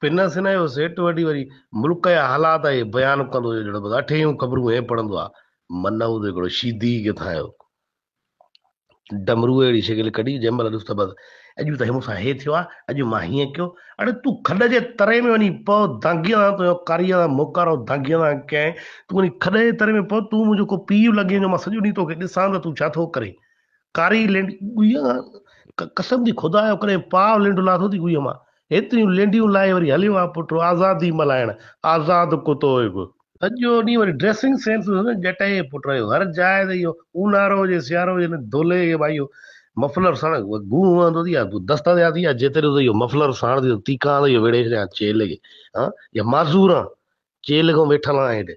پنس هن جو سيٽ وٺي وري ملڪ جا حالات اهي بيان ڪندو هيو جهڙو بس اٺ هيون خبرون هي پڙهندو آ. منه ادي ڪهڙو شيدي ئي ڪٿان آيو. ڊمروء اهڙي شڪل ڪڍي جنهن مهل ڏس ته بس اڄ ته مون سان هي ٿيو آ، اڄ مان هيئن ڪيو، اڙي تون کڏ جي تري ۾ وڃي پو دانگيء سان تنهنجو ڪاريء سان موڪارو دانگيء سان ڪيائين، تون وڃي کڏ جي تري ۾ پو، تون منهنجو ڪو پيء لڳين جو مان سڄو ڏينهن توکي ڏسان ته تون ڇا ٿو ڪرين. ڪاري لينڊ ڳويء کان قسم ٿي خدا جو ڪري پاء لينڊ لاٿو ٿي ڳويء مان. هيتريون لينڊيون لائي وري هليو آ پٽ آزادي ملهائڻ. آزاد ڪتو هي به. اڄ جو ڏينهن وري ڊريسنگ سينس به سندس ڄٽائيء جي پٽ رهيو. هر جاء تي اهو اونهارو هجي سيارو هجي هن دولهي کي به اهو مفلر ساڻ گون هنئندو ٿي آ دستا ٿيا ٿي آ جيتري ته اهو مفلر ساڻ ٿي ته تيکان ته اهو ويڙهي ڇڏيان چيلهه کي. ها! يا معذور آن چيلهه کان ويٺل آن هيڏي.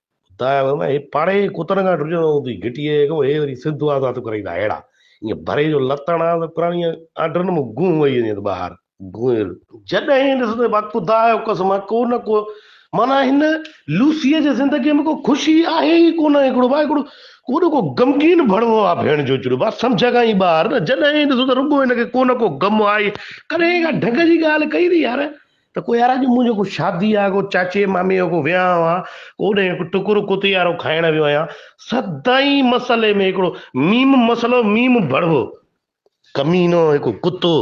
خدا جو قسم هي پاڙي ڪتن کان ڊڄڻو هوندي گهٽي هي ڪو هي وري سنڌ واسا تو ڪرائيندا هيڙا ايئن ڀري جو لتڻ آ ته پراڻي آنڊرن ۾ گونهه وئي وڃي ته ٻاهر گونهه جڏهين ڏس ته با خدا جو قسم ڪو نه ڪو معنيٰ هن لوسيء جي زندگيء ۾ ڪو خوشي آهي ئي ڪو نه هڪڙو با هڪڙو ڪوڏو ڪو غمگين ڀڻوو آ ڀيڻ جو چڙو با سمجهه کان ئي ٻاهر نه جڏهين ڏسو ته رڳو هن کي ڪو نه ڪو غم آهي ڪڏهين ڪا ڍنگ جي ڳالهه ڪئي اٿي يار ته ڪو يار اڄ منهنجو ڪو شادي آ، ڪو چاچي مامي جو ڪو ويانهه آ، اوڏهين هڪ ٽڪرو ڪتيارو کائڻ ويو آهيان. سدائين مسئلي ۾ هڪڙو ميم مسئلو ميم ڀڙوو. ڪمينو هڪ ڪتو.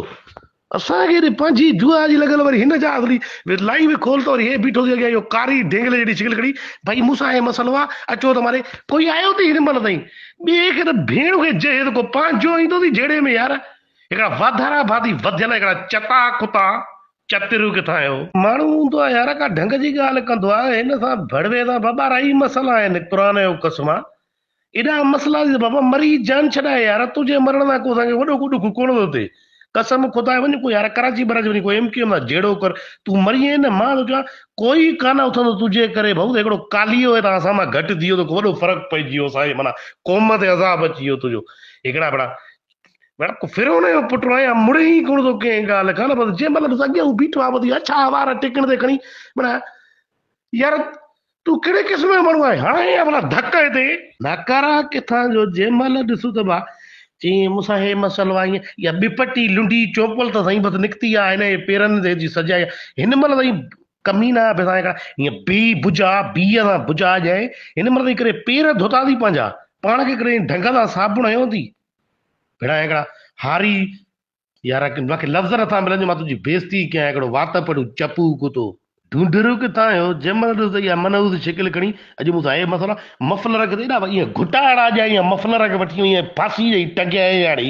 اسان کي هيڏي پنهنجي دعا جي لڳل وري هن جا اصلي لائي به کول ته وري هي بيٺو ٿي اڳيان اهو ڪاري ڍينگلي جهڙي شڪل کڻي ڀئي مون سان هي مسئلو آ اچو ته ماري ڪوئي آيو ٿي هن مهل تائين ٻئي کي ته ڀيڻ کي جهي ته ڪو پنهنجو ايندو ٿي جهيڙي ۾ يار هڪڙا واڌارا ڀاتي وڌيل هڪڙا چٽا ڪتا چتريون ڪٿان آيو. ماڻهو هوندو آ يار ڪا ڍنگ جي ڳالهه ڪندو آ هن سان ڀڙوي سان بابا اڙائي مسئلا آهن قرآن جو قسم آ ايڏا مسئلا ٿي ته بابا مري جان ڇڏاء يار تنهنجي مرڻ سان ڪو اسان کي وڏو ڪو ڏک ڪونه ٿو ٿئي قسم خدا جي وڃ ڪو يار ڪراچي براچي وڃي ڪو ايم ڪيو ايم سان جهيڙو ڪر تون مريئين نه مان ٿو چوان ڪوئي ڪانه اٿندو تنهنجي ڪري ڀائو ته هڪڙو ڪاليو هتان اسان مان گهٽ ٿي ويو توکي وڏو فرق پئجي ويو اسان جي معنيٰ قوم تي عذاب اچي ويو تنهنجو هڪڙا ڀيڙا ورق فرعون جو پٽ آهي يا مڙهي ئي ڪونه ٿو ڪنهن ڳالهه کان نه بس جنهن مهل بس اڳيان هو بيٺو آهي بس يا ڇا وار ٽيڪن تي کڻي منا يار تون ڪهڙي قسم جو ماڻهو آهي هاڻ هي ڀلا ڌڪ هتي ناڪارا ڪٿان جو جنهن مهل ڏسو ته با چيئين مون سان هي مسئلو آهي يا ٻپٽي لنڊي چوپل ته سائين بس نڪتي آهي هن جي پيرن تي جي سجائي هن مهل سائين ڪمينا به سائين ڪا ائين بي بجا بيء سان بجا ڄائي هن مرد جي ڪري پير ڌوتا ٿي پنهنجا پاڻ کي ڪري ڍنگ سان صابڻ هنيو ٿي ڀيڙا هڪڙا هاري يار مونکي لفظ نٿا ملن جو مان تنهنجي بيزتي ڪيان هڪڙو وات پڙو چپو ڪتو. ڍونڍرو ڪٿان آيو جنهن مهل ڏس ته اها منحوس شڪل کڻي اڄ مون سان اهي مسئلا مفلر کي ته ايڏا ائين گهٽا اڙا ڄائي ائين مفلر کي وٺي ائين ڦاسي ڏئي ٽنگيائين هاڻي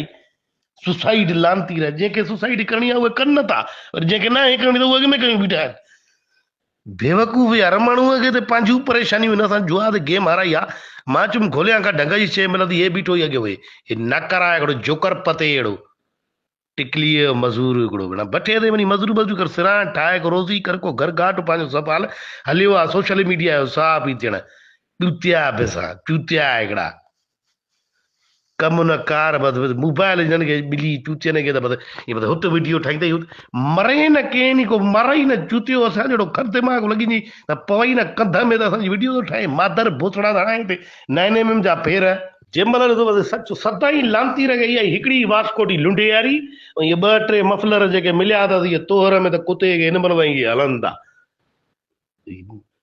سوسائيڊ لانتي رهي جنهن کي سوسائيڊ ڪرڻي آهي اهي ڪن نه ٿا ۽ جنهن کي ناهي ڪرڻي ته اهي اڳ ۾ ڪيون بيٺا آهن بيوقوف يار ماڻهو کي ته پنهنجون پريشانيون هن سان جوا تي گيم هارائي آ مان چم گهوليان کا ڍنگ جي شي ملندي هي بيٺو هي اڳي هوئي هي ناڪار آهي هڪڙو جوڪر پتي اهڙو ٽڪلي مزور هڪڙو بنا بٺي تي وڃي مزور مزور ڪر سران ٺاهي ڪو روزي ڪر ڪو گهر گاٽ پنهنجو سنڀال هليو آ سوشل ميڊيا جو صحافي ٿيڻ ڏوتيا بسا چوتيا هڪڙا ڪم نه ڪار بس بس موبائل هجن کي ٻلي چوتين کي ته بس هي بس هت ويڊيو ٺاهي ته مري نه ڪين ئي ڪو مري نه چوتيو اسان جهڙو کر دماغ لڳي جي ته پوي نه ڪنڌ ۾ ته اسان جي ويڊيو ٿو ٺاهي مادر بوسڙا ته هڻائي تي نائن ايم ايم جا ڦير جنهن مهل ڏسو بس سچ سدائين لانتي رکي اها هڪڙي واسڪوٽي لنڊياري ۽ اهي ٻه ٽي مفلر جيڪي مليا اٿس اهي توهر ۾ ته ڪتي کي هن مهل وئي هلن ٿا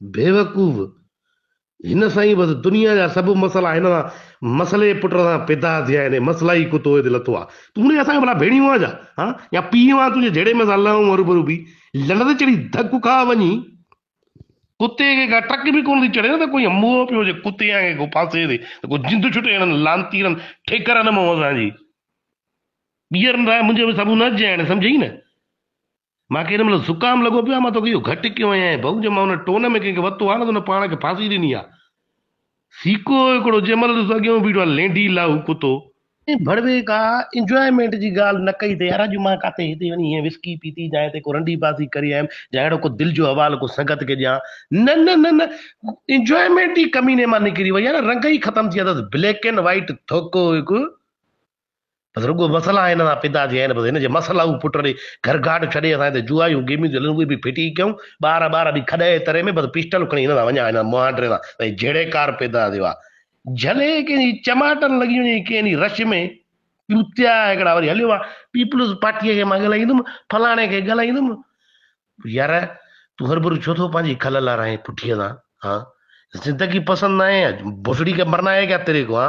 بيوقوف، هن سائين بس دنيا جا سڀ مسئلا هن سان مسئلي پٽ سان پيدا ٿيا آهن مسئلائي ڪتو هت لٿو آ تون هونئن اسان جا ڀلا ڀيڻيون آ ڇا ها يا پيء وان تنهنجي جهڙي مين سان لهون هروڀرو بي لڙ تي چڙهي ڌڪ کاء وڃي ڪتي کي ڪا ٽڪ به ڪونه ٿي چڙهي نه ته ڪوئي موهه پيو هجي ڪتي آنگي ڪو ڦاسي تي ته ڪو جند ڇٽي هنن لانتيرن ٺيڪر نه مئو اسان جي ٻيهر نه راء منهنجي به سڀ نه جهين سمجهي نه مان کي ان مھل زڪام لڳو پيو آھي، مان توکي اھو گھٽ ڪيو ھيائين ۽ بھو جي مان ان ٽون ۾ ڪنھن کي وتو آھي نه ته ان پاڻ کي ڦاسي ڏني آھي. سيڪو ھڪڙو جنھن مھل ڏسو اڳيئون بيٺو آھي لينڍي لاھو ڪتو. ۽ بڙوي ڪا انجوائيمينٽ جي ڳالھه نه ڪئي تي يار اڄ مان ڪاتي ھتي وڃي ھيئن وسڪي پيتي جا ھتي ڪو رنڊي بازي ڪري آيم جا اھڙو ڪو دل جو حوال ڪو سنگت کي ڏيان نه نه نه نه انجوائيمينٽ ئي ڪميني مان نڪري وئي آھي نه رنگ ئي ختم ٿي ويا اٿس بليڪ اينڊ وائيٽ ٿوڪو ھڪ بس رڳو مسئلا هن سان پيدا ٿيا آهن، بس هن جي مسئلاو پٽ ڏي گهر گهاٽ ڇڏي اسان هتي جوئايون گيميون ٿيون هلن اهي به ڦٽي ڪيون، ٻار ٻار به کڏ اهي تري ۾ بس پسٽل کڻي هن سان وڃان هن مهانڊري سان سائين جهڙي ڪار پيدا ٿيو آ، جهلي ڪنهن جي چماٽن لڳي وڃي ڪنهن جي رش ۾ چوتيا هڪڙا وري هليو آ پيپلز پارٽيء کي مان ڳالهائيندم فلاڻي کي ڳالهائيندم يار تون هربرو ڇو ٿو پنهنجي کل لارائين پٺيء سان ها زندگي پسند ناهي بوسڙي کي مرنا هي ڪيا تيري کو ها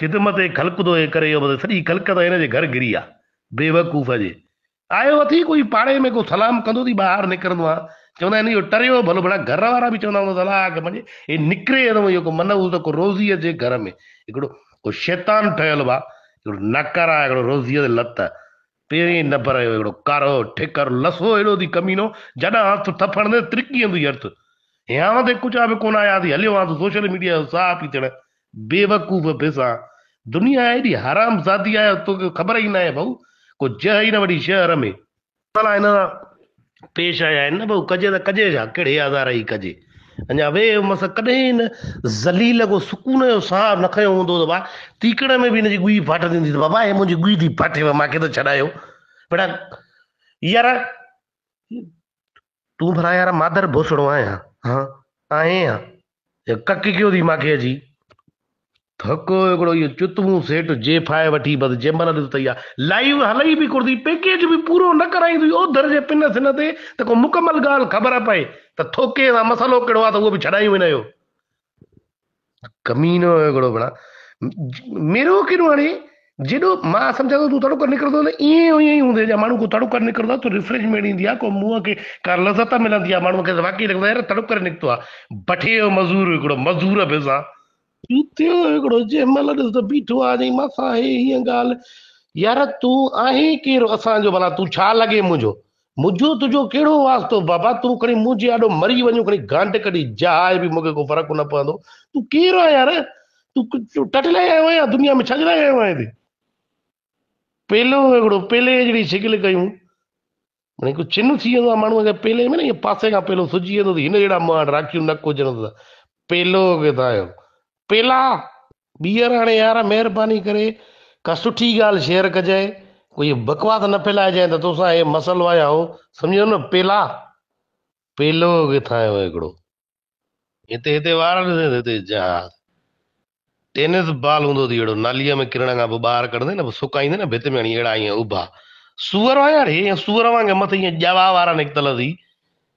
خدمت خلق ٿو هي ڪري يوم تي سڄي خلق ته هن جي گهر گهري آ بيوقوف جي آيو اٿي ڪوئي پاڙي ۾ ڪو سلام ڪندو ٿي ٻاهر نڪرندو آ چوندا آهن اهو ٽريو ڀلو ڀلا گهر وارا به چوندا هوندا الاء اڳ منجي هي نڪري ته اهو ڪو منحوس ته ڪو روزي جي گهر ۾ هڪڙو ڪو شيطان ٺهيل به آ هڪڙو ناڪاره هڪڙو روزي تي لت پيرين نه پرهيو ههڙو ڪارو ٺڪر لسو ههڙو ٿي ڪمينو جڏهن هٿ ٿڦڻ ۾ ترڪي اندو ئي ارٿ هيانء تي ڪچا به ڪونه آيا ٿي هليو هان ته سوشل ميڊيا جو ساهه پيتڙ بيوقوف به سان دنيا ايڏي حرام زادي آهي توکي خبر ئي ناهي ڀئو ڪو جهه ئي نه وڍي شهر ۾. ڀلا هن سان پيش آيا آهن نه بهو ڪجي ته ڪجي ڇا ڪهڙي آزار جي ڪجي اڃا ويهي هو مس ڪڏهن هن ذليل کو سڪون جو ساهه نه کنيو هوندو ته با تيڪڙ ۾ به هن جي ڳوئي ڦاٽندي هوندي ته بابا هي منهنجي ڳوئي ٿي ڦاٽي وئي مانکي ته ڇڏايو بيڙا يار تون ڀلا يار مادر بوسڙو آهيان ها آهين ڪڪ ڪيو ٿي ماکي اچي ته هڪ هڪڙو اهو چتمون سيٽ جي فائي وٺي بس جنهن مهل ڏس ته اها لائيو هلي به ڪرتي پيڪيج به پورو نه ڪرائين ٿي اوڌر جي پن سن تي ته ڪو مڪمل ڳالهه خبر پئي ته ٿوڪي سان مسئلو ڪهڙو آهي ته اهو به ڇڏايون هن جو ڪمينو هڪڙو بڻا ميرو ڪيڏو هڻي جيڏو مان سمجهان ٿو تون تڙڪر نڪرندو ته ائين ائين ئي هوندو جڏهن ماڻهو ڪو تڙڪر نڪرندو آهي ته ريفريشمينٽ ايندي آهي ڪو منهن کي ڪا لذت ملندي آهي ماڻهو کي ته واقعي لڳندو آهي يار تڙڪر نڪتو آهي بٺي جو مزور هڪڙو مزور به سان جوتي جو هڪڙو جنهن مهل ڏس ته بيٺو آهي جي ماس آهي هيء ڳالهه يار تون آهين ڪير اسان جو ڀلا تون ڇا لڳين منهنجو منهنجو تنهنجو ڪهڙو واسطو بابا، تون کڻي مون جي آڏو مري وڃ، کڻي گانڊ ڪڍي جاء به مون کي ڪو فرق نه پوندو. تون ڪير آهين يار؟ تون ٽٽ لاء آيو آهين يا دنيا ۾ ڇا جي لاء آيو آهين هتي؟ پيلو هڪڙو پيلي جهڙي شڪل ڪيون، معني ڪو چن ٿي ويندو آهي ماڻهوء کي پيلي ۾ نه ائين پاسي کان پيلو سجي ويندو ته هن جهڙا مهاڻ راکيون نڪ هجڻ ته پيلو ڪٿان آيو؟ پيلا ٻيهر هاڻي يار مهرباني ڪري ڪا سٺي ڳالهه شيئر ڪجانء ڪو هي بڪواس نه ڦهلائجانء ته توسان هي مسئلو آهي هائو سمجهيو نه پيلا پيلو ڪٿان آيو هڪڙو هتي هتي وار ڏسين ته هتي جهاز ٽينس بال هوندو اٿي اهڙو ناليء ۾ ڪرڻ کان پوء ٻاهر ڪڍندي نه پوء سڪائيندي نه ڀت ۾ هڻي اهڙا ائين اڀا سوئر آهيان اڙي ائين سوئر وانگي مٿي ائين ڄوا وارا نڪتل اٿي